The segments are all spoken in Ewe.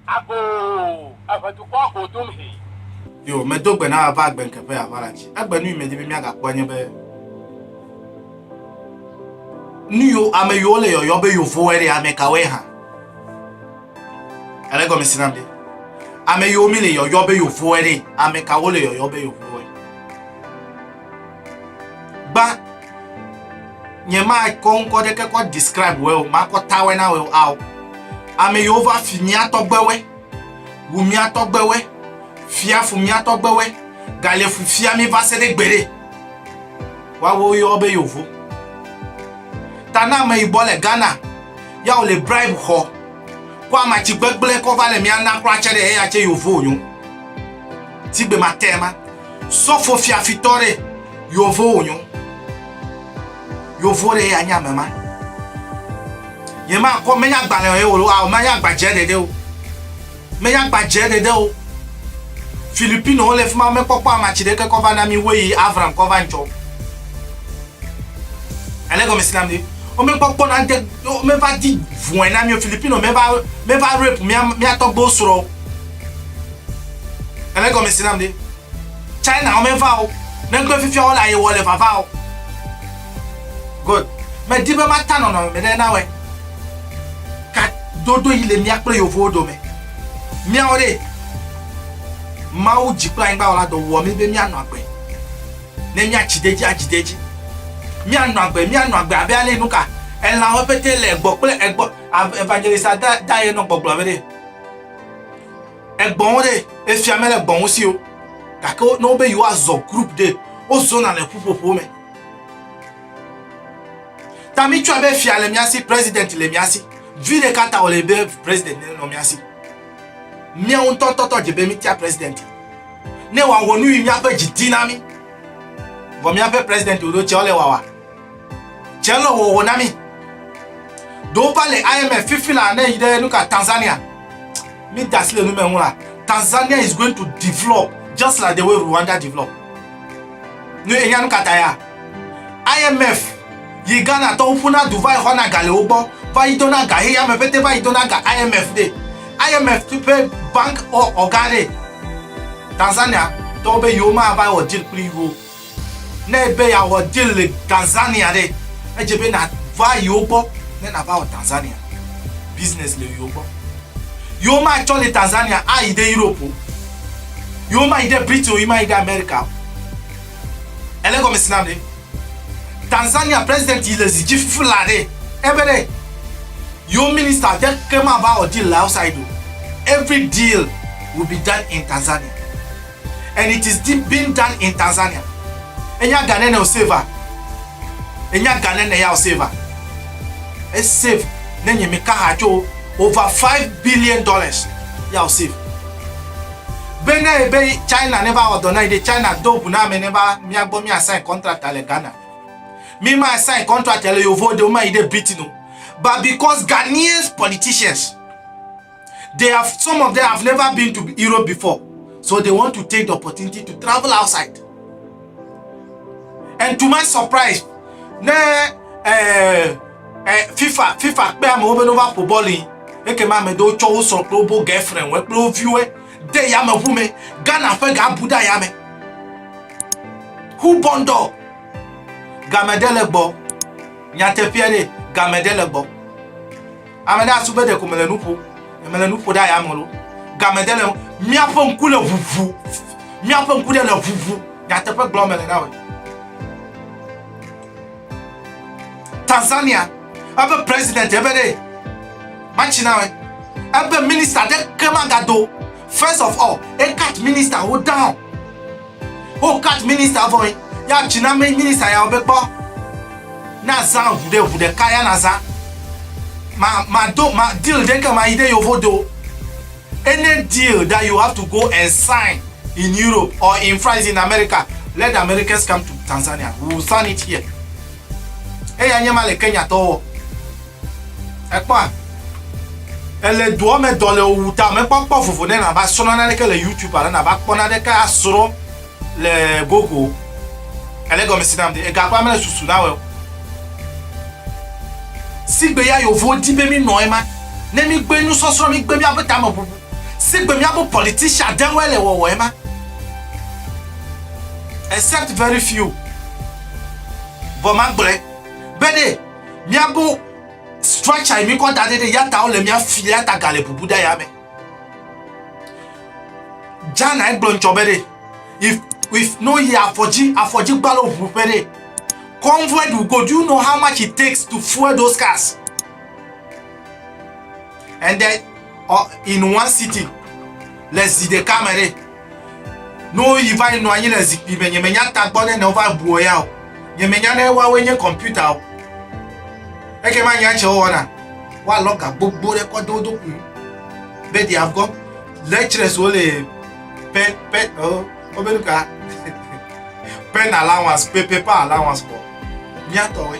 Ago, eve dukɔ ago dom he. Yo, medo gbe na ava agbe nke ƒe aʋala dzi. Egbe nu yi medi be míagakpɔa nye be nu yo ame yiwo le yɔyɔ be yewovoe ɖe ame kawoe hã. Ele gɔme si nam ɖe. Ame yiwo mi le yɔyɔ be yewovoe ɖe ame kawo le yɔyɔ be yewovoe. gba nyemakɔ ŋkɔ ɖeke kɔ describe wɛ o makɔ tawɛ na wɛ o ao ame yiwo va fi miatɔgbewɛ wu miatɔgbewɛ fiafu miatɔgbewɛ galefu fia mi va se ɖe gbeɖe woawo yɔ be yovo ta na ame yibɔ le ghana ya wòle bribe xɔ kɔ amatsi gbegblẽ kɔ va le mía na kura tse ɖe eya tse yovo wònyo tigbe ma tɛ ma Sɔfo fiafitɔ ɖe yovo wònyo. Yovo ɖe ya nye ame ma. Yemakɔ menye agbalẽ ye wòɖo ao menye agbadze ɖeɖe o. Menye agbadze ɖeɖe o. Filipino wole fi ma mekpɔkpɔ ama tsi ɖeke kɔ va na mi woyi Avram kɔ va ŋtsɔ. Ele gɔme si na mi. Womekpɔkpɔ na de womeva di vɔe na mi Filipino meva meva rape mia mia tɔgbewo srɔ̃. Ele gɔme si nam ɖe. China wome va o. Negbe fifia wole aye wɔ le vava o. God, medi be mata nɔnɔme me ɖe nawɔe. Ka dodo yi le mía kple yovowo dome. Míawɔ ɖe. Mawu dzi kple anyigba wɔla dɔ wɔ mí be míanɔ agbe. Ne míatsi de edzi adzi de edzi. Míanɔ agbe, míanɔ agbe abe ale nuka elãwo pete le gbɔ kple egbɔ. Evangelist Adair nɔ gbɔgblɔm be ɖe. Egbɔn wo ɖe, efia mele gbɔn wo si o. Gake ne wobe yewoazɔ group ɖe, wozɔna le ƒuƒoƒo me. Ta mitsɔe be fia le mía si, president le mía si. Vi ɖeka ta wòle be president nenɔ mía si. Míawo ŋutɔtɔtɔ dze be mítia president. Ne wòawɔ nu yi míaƒe dzi di na mí. Vɔ míaƒe president ɖoɖo tsɛ wole wawa. dze le hoho na mí. Ɖewo va le IMF fifi la ne yi ɖe nuka Tanzania. Mi da asi le nume ŋu la. Tanzania is going to develop just like the way Rwanda develop. Nu enya nu kata ya. IMF yi Ghana tɔwo ƒuna du va yi xɔna ga le wo gbɔ va yi dona ga heya me ƒete va yi dona ga IMF de. IMF ƒe bank ɔga de. Tanzania tɔwo be yewo ma va yi wɔ deal kpli wo. Ne ebe yeawɔ deal le Tanzania ɖe, edze be nàva yewo gbɔ ne nàva wɔ Tanzania business le yewo gbɔ. Yewo matsɔ le Tanzania ayi ɖe Europe o. Yewo mayi ɖe Britain o, yewo mayi ɖe America o. Èle gɔme si nam ɖe? Tanzania president yi le zi dzi fla ɖe, ebe ɖe yewo minister ɖe ke mava wɔ deal le outside o. Every deal will be done in Tanzania. and it is being done in Tanzania. Enya Ghana ne o save a? Enya Ghana ne ya o save a? E save ne nye mi kaha tso over 5 billion dollars ya o save. Be ne ebe China ne va wɔdɔ na yi de China do gu na ame ne va mia gbɔ mia sign contract le Ghana. Mi ma sign contract le yovo de o ma yi de Britain o. But because Ghanaian politicians They have, some of them have never been to Europe before. So they want to take the opportunity to travel outside. And to my surprise, ne eh, eh, FIFA, FIFA kpe amewo be nova ƒo bɔl yi. Eke ma ame ɖewo tsɔ wo srɔ̃ kple wobo girlfriend wɔ kple wo viwo de yameʋu me. Ghana ƒe ga bu ɖe yame. Who born dog? Game ɖe le gbɔ. Nyateƒea ɖe, game ɖe le gbɔ. Ame ɖe asu be ɖeko mele nu ƒo, ne mele nu ƒo ɖe aya me lo, ga me de le ŋu. Miaƒe ŋku le ʋuʋu, miaƒe ŋku ɖe le ʋuʋu, nyateƒe gblɔm mele na wòe. Tanzania, ebe president ebe ɖe matsi na wòe, ebe minister ɖe ke maga do, first of all, e cut minister wo down. Wo cut minister vɔ ye ya tsi na me minister ya be kpɔ na zã ʋu ɖe ʋu ɖeka ya na zã ma ma do ma deal ɖe ke ma yi ɖe yovo do any deal that you have to go and sign in Europe or in France in America let the Americans come to Tanzania we will sign it here eya nye ma le Kenya tɔwo. Èkpɔa? Èle doa me dɔ le wò wu ta me kpɔkpɔ vovo ne nàva srɔ̃ naneke le YouTube alo nàva kpɔ naneke asrɔ̃ le Google. Èle egɔme si nam de? Egakpɔa mele susu na wò. Sigbe ya yevuwo di be mi nɔ ema. Ne mi gbe nusɔsrɔ̃, mi gbe miabe tame bubu. Sigbe miabe politician ɖewoe le wɔwɔ ema. Except very few. Vɔ magblɔe be ɖe. Miago structure mi kɔ da ɖe ɖe yata wole mia fi ɖe yata ga le bubu da ya me. Jana egblɔ ŋtsɔ be ɖe if if no yi afɔdzi afɔdzi gbalo ʋu ƒe ɖe convoy do go do you know how much it takes to fuel those cars and then uh, in one city le zi ɖeka me ɖe No yi va yi nɔ anyi le zikpui me nyemenya tagbɔ ne ne wova bua ya o nyemenya ne woawoe nye kɔmputa o eke ma nya tse wowɔna woalɔ ga gbogbo ɖe kɔ de wo dokui be they have got lecturers wo le pe pe o wobe nu ka pen allowance pe paper allowance kɔ miatɔwoe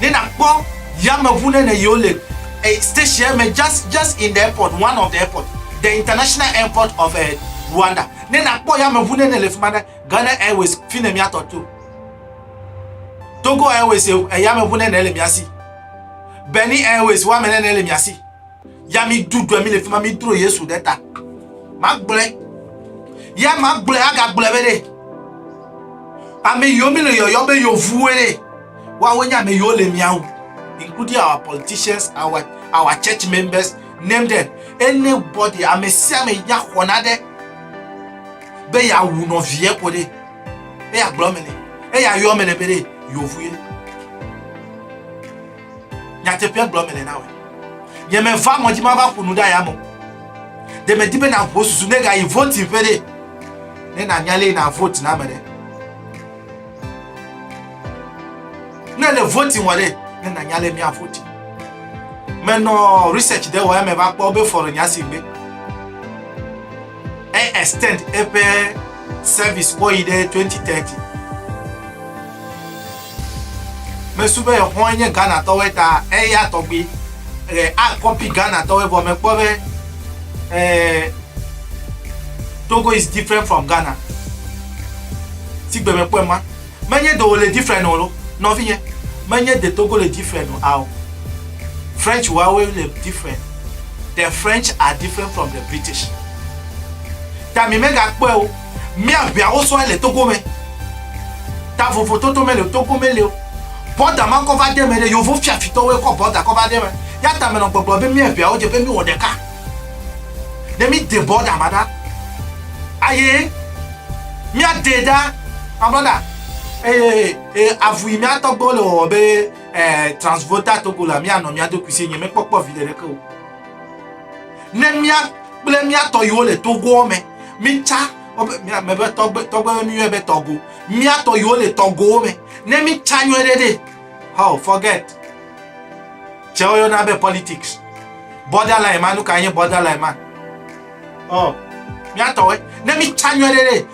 Ne nakpɔ yameʋu ne ne yio le stationɛ me just just in the airport one of the airport the international airport of eh, Rwanda ne nakpɔ yameʋu ne ne le fima ɖe Ghana Airways fi ne mia tɔ to Togo Airways eh, yameʋu ne ne le mia si Benin Airways wa me ne ne le mia si ya mi du dua mi le fi ma mi dro yesu ɖe ta magblɔe ya magblɔe agagblɔe be ɖe ame yiwo mi le yɔyɔ be yevuwoe ɖe woawo nye ame yiwo le miawo including our politicians our our church members name them anybody ame sia ame nya xɔ na ɖe be yeawu nɔvie ko ɖe eya gblɔ me ne eya yɔ me ne be ɖe yevu ye. Nyateƒea gblɔ mele na wòe. Nyemeva ŋɔdzi mava ƒo nu ɖe ayame o. Ɖe medi be nàho susu ne gayi voting ƒe ɖe, ne nànya lé na vote na ame ɖe. Ne le voting wɔ ɖe, ne nànya lé mía voting. Menɔ research ɖe wɔ ya meva kpɔ be fɔre nya si gbe. E extend eƒe service kɔ yi ɖe 2030. Mesu be exɔa nye Ghana tɔwoe ta eya tɔgbi e a copy Ghana tɔwoe vɔ mekpɔ be e Togo is different from Ghana. Si gbe mekpɔe ma menye de wole different o lo nɔvinye menye de Togo le different o ao French wawoe le different. The French are different from the British. Ta mi megakpɔe o. Mia ʋea wo sɔe le Togo me. Ta vovo toto me le Togo me le o. Bɔda ma kɔ va de me ɖe, yovo fiafi tɔ woe kɔ bɔda kɔ va de me. Ya ta me nɔ gbɔgblɔ be mia ʋea wo dze be mi wɔ ɖeka ne mi de bɔda ma ɖa. Aye mia de ɖa, my brother. Eye e avu yi mia tɔgbewo le wɔwɔ be eh, Transvoda Togo la, mia nɔ mia ɖokui si enye, me kpɔ kpɔ viɖe ɖeke o. Ne mía kple mía tɔ yiwo le togoɔ me, mítsa me be tɔgbe tɔgbe be miyɔe be tɔgo. Mía tɔ yiwo le tɔgowo me, ne mítsa nyuie ɖe ɖe. How forget. Tsɛ woyɔna be politics. Borderline ma nu ka nye borderline ma? Oh, mía tɔwoe. Ne mítsa nyuie ɖe ɖe.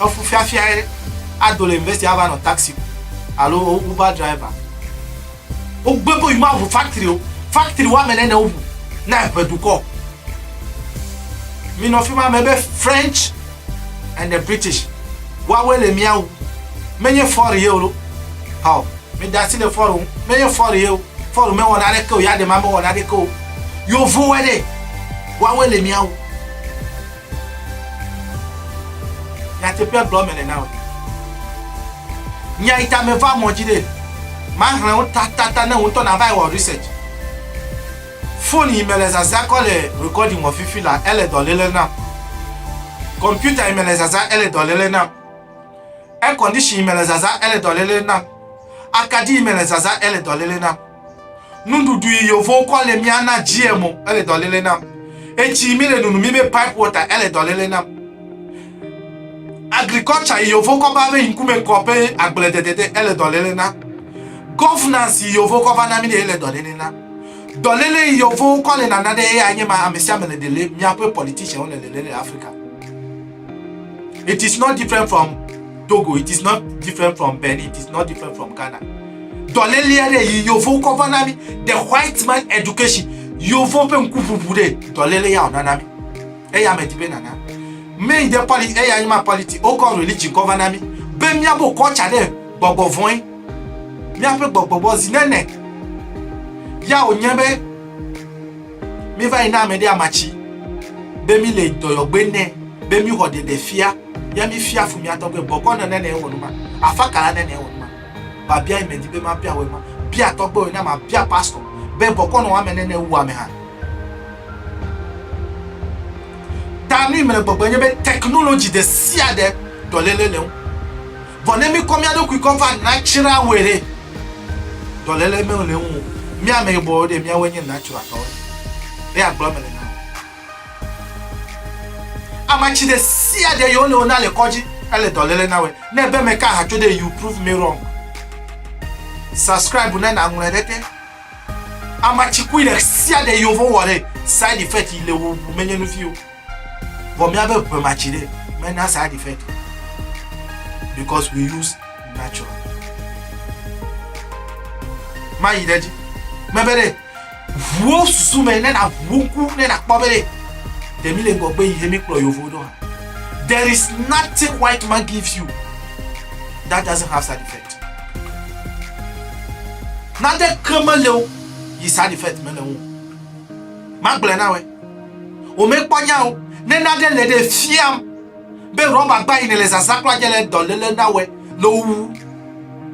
Efufiafiae ado le university ava nɔ taxi kum alo Uber driver. Wogbe be yewoaʋu factory o. Factory woame ene ne woʋu na eŋe dukɔ. Minɔ fi ma me be French and the British. Woawoe le mía wu. Menye Ford ye o ɖo. Hɔ, meda asi le Ford ŋu. Menye Ford ye o. Ford mewɔ naneke o. Yadema mewɔ naneke o. Yevowoe ɖe. Woawoe le mía wu. Nyateƒea gblɔ mele na wò. Nya yi ta meva mɔ dzi ɖe mahlẽ wo tatata ne wò ŋutɔ nava yi wɔ research. Foni yi mele zazã kɔ le recording wɔ fifi la ele dɔléle nam. Kɔmputa yi mele zazã ele dɔléle nam. Air condition yi mele zazã ele dɔléle nam. Akaɖi yi mele zazã ele dɔléle nam. Nuɖuɖu yi yovo kɔ le mia na GMO ele dɔ lele nam. Etsi mi le nunu mi be pipe water ele dɔ lele nam. Agriculture yi yovo kɔ ba be ŋkume kɔ be agble dedede ele dɔ lele nam. Governance yi yovo kɔ va na mi de ele dɔ lele nam. Dɔ lele yi yovo kɔ le nana de eya nye ma amesiame le de le miaƒe politician le lele le Africa. It is not different from Togo, it is not different from Benin, it is not different from Ghana. Dɔlélia ɖe yi yovo kɔ va na mi the white man education yovo ƒe ŋkuʋuʋu ɖe dɔlele ya wòna na mi eya medi be nana mi de politi eya nyima politi wokɔ religion kɔ va na mi be míabo kɔtsa ɖe gbɔgbɔ vɔe míaƒe gbɔgbɔgbɔ zi nene ya wònye be Mi va yi na ame ɖe ama tsi be mi le dɔyɔgbe nɛ be mi xɔ ɖeɖe fia ya mi fia fu mia tɔgbe bɔkɔ nɔ nɛnɛ wɔ numa afa kala nɛnɛ wɔ numa ba bia yi me di be ma bia wɔ ma bia tɔgbe wɔ na ma bia pastor be bɔkɔ nɔ ame nɛnɛ wu ame ha ta nu yi me le gbɔgbe nye be technology de sia de dɔlele le ŋu. Vɔ ne mí kɔ mía ɖokui kɔ va nacra woe ɖe, dɔlele mɛ le ŋu mí ame yibɔ ɖe míawoe nye nacra tɔ ɖe. Ɖe agblɔ eme le na wò. Ama ci ɖe sia ɖe yio le wona le kɔdzi ele dɔlele na woe. Ne ebe me ka haco ɖe you prove me wrong. Subscribe ne na ŋlɔe ɖe te. Ama ci kui ɖe sia ɖe yio vɔ wɔ ɖe side effect yi le wò ŋu me nye nu vio. Vɔ míabe ŋe ma tsi ɖe mena side effect o because we use natural. Ma yi ɖe dzi. Mebe ɖe ʋuwo susu me ne na ʋuwo ŋku ne na kpɔ be ɖe ɖe mi le ŋgɔgbe yi he mi kplɔ yovo ɖo ha. There is nothing white man gives you that doesn't have side effect. Nade ke me le o yi side effect me le ŋu. Ma gblɔ na we. Womekpɔ nya o. Ne nane le ɖe fiam be rɔbagba yi nèle zazã kura dze le dɔléle na wòe le wowu.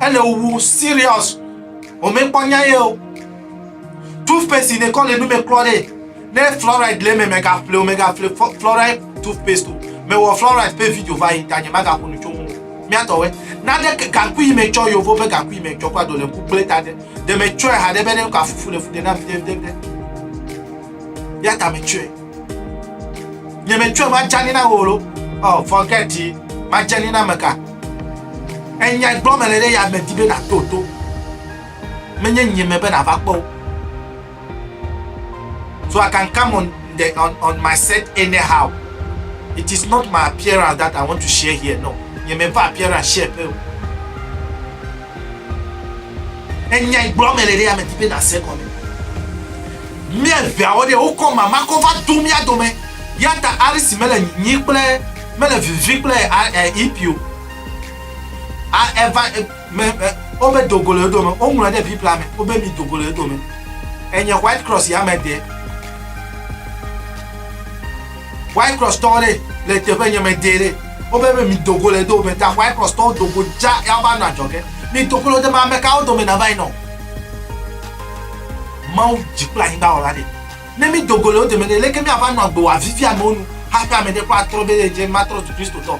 Ele wowu serious. Womekpɔ nya ye o. Toothpaste yi nekɔ le nu me klɔ ɖe ne fluoride le eme mègaƒle o, mègaƒle fluoride toothpaste o. Mewɔ fluoride ƒe video va yi ta nye magaƒo nu tso ŋu o. Míatɔwɔe. Nane gaŋkui yi metsɔ yovo ƒe gaŋkui yi metsɔ kura do le ŋku gblẽ ta ɖe. ɖe metsɔe haɖe be ne ka fufu le fu ɖe nam viɖeviɖe ya ta metsɔe nye metsɔe madzani na wò lo ɔ oh, forget it madzani na meka enya gblɔ mele ɖe ya me di be nato to menye nye me be nava kpɔ o So I can come on the on, on my set anyhow. It is not my appearance that I want to share here. No. Nye me va appearance share pe o. Enya igblɔ me le ɖe ame ti pe na se kɔme. Mia veawo ɖe wokɔ mama kɔ va do mia dome. Ya ta Alice mele nyi kple mele vivi kple EP o. A eva me wobe dogo le dome woŋlɔ ɖe bibla me wobe mi dogo le dome enye white cross ya me de white cross tɔ ɖe le teƒe nye me de ɖe wobe be mi dogo le dome ta white cross tɔ dogo dza ya va nɔ adzɔge mi dogo le dome ame kawo dome na va yi nɔ mawu dzi kple anyigba wɔla ɖe ne mi dogo le dome ne leke mi ava nɔ agbe wɔ avivi amewo nu hafi ame ɖe kɔ atrɔ be dze matrɔ zu kristotɔ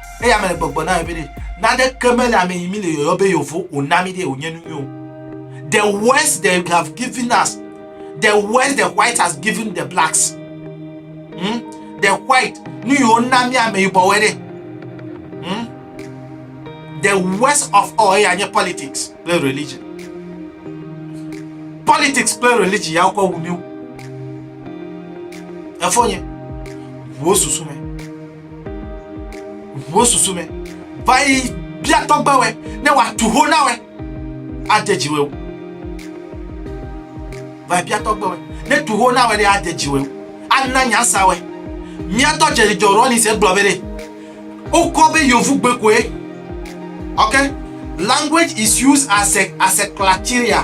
Eya me le gbɔgbɔ na be naneke mele ame yi mi le yɔyɔ be yovo o na mi de o nye nunyo. The words they have given us, the words the white has given the blacks. Hmm? The white, nu yi wona mi ame yibɔ wɔ de. Hmm? The worst of all eya nye politics kple religion. Politics kple religion ya wokɔ wu mi. Efo nye, wo susu me. Ʋuwo susu me. Va yi bia tɔgbewɔe ne wòatu ho na wòe. Ade dzi wòe. Va yi bia tɔgbewɔe ne tu ho na wòe ɖe ade dzi wòe. Ana nya sa wòe. Mía tɔ Jerry John Rawlings egblɔ be ɖe wokɔ be yovugbe koe. Ok, language is used as a as a criteria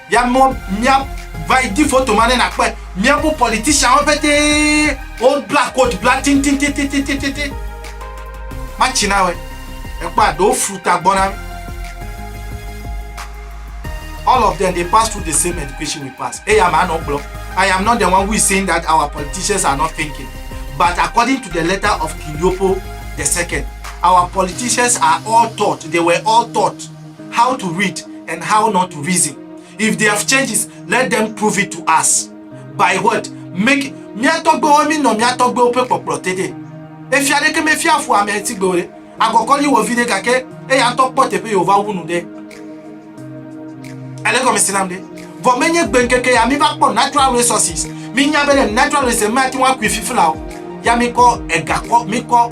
Ya mɔ mia va yi di foto ma ne nakpɔe. Miaƒe politician wo pete wo bla coat bla tititititititi. Matsi na wɛ. Ekpɔ a ɖewo flu ta gbɔ na mi. All of them they pass through the same education we pass. Eya ma no gblɔ. I am not the one who is saying that our politicians are not thinking. But according to the letter of King Leopold the second, our politicians are all taught. They were all taught. How to read and how not to reason if they have changes let them prove it to us by what make mía tɔgbewo mí nɔ mía tɔgbewo ƒe kpɔkplɔ te ɖe efia aɖeke me fia fu amɛ ŋti gbewo ɖe agɔkɔ nyi wɔ viɖe gake eya ŋtɔ kpɔ teƒe yewo va wu nu ɖe ele gɔmesi nam ɖe vɔ me nye gbe ŋkeke ya mí va kpɔ natural resources mí nya be ne natural resources mí ati ŋu akui fifila o ya mí kɔ ega kɔ mí kɔ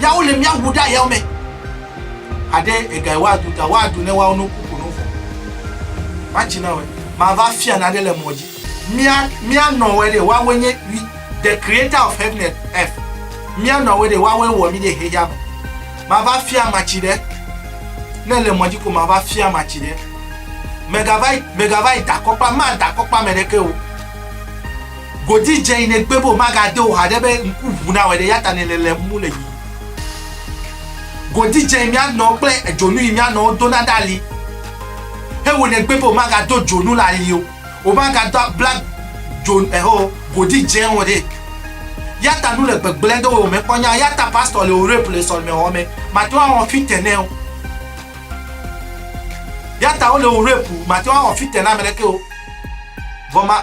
Yawo le mia wu ɖa yawo me. Aɖe ega wa du ta wa du ne wa no kuku no fɔ. Ma ci na we ma va fia na ɖe le mɔ ji. Mia mia nɔ we ɖe wa we nye wi the creator of heaven and earth. Mia nɔ we ɖe wa we wɔ mi ɖe xeya me. Ma va fia ma ci ɖe ne le mɔ ji ko ma va fia ma ci ɖe. Mega va mega va da kɔkpa ma da kɔkpa me ɖe ke wo. Godi dze yi nègbe be wòmagade o haɖe be ŋku ŋu nawɔe ɖe, eyata nèle lém mú le yiyim. Godi dze yi mía nɔwo kple edzonu yi mía nɔwo dona ɖe ali he wò nègbe be wòmagado dzonu le ali o, wòmagado bla dzo eho godi dze o ɖe. Eyata nu le gbegblẽ ɖe wò me kpɔ nya eyata pastor le wò rape le sɔlemexɔ me màte ŋu awɔ fite nɛ o. Eyata wole wò rape màte ŋu awɔ fite na ame ɖeke o vɔ ma.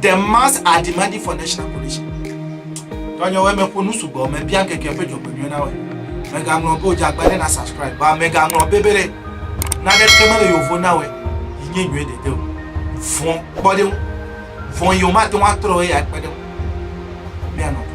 The mass are demanding for national coalition. Tɔnyewe me ƒo nu sugbɔ me bia keke ƒe dzɔgbe nyuie na we. Mega ŋlɔ be odze agba ɖe na subscribe ba mega ŋlɔ be be ɖe na ɖe te mele yovo na we yi nye nyuie de de o. Vɔn kpɔ ɖe ŋu. Vɔn yi o ma te ŋu atrɔ ye ya kpe ɖe ŋu. Mia nɔ.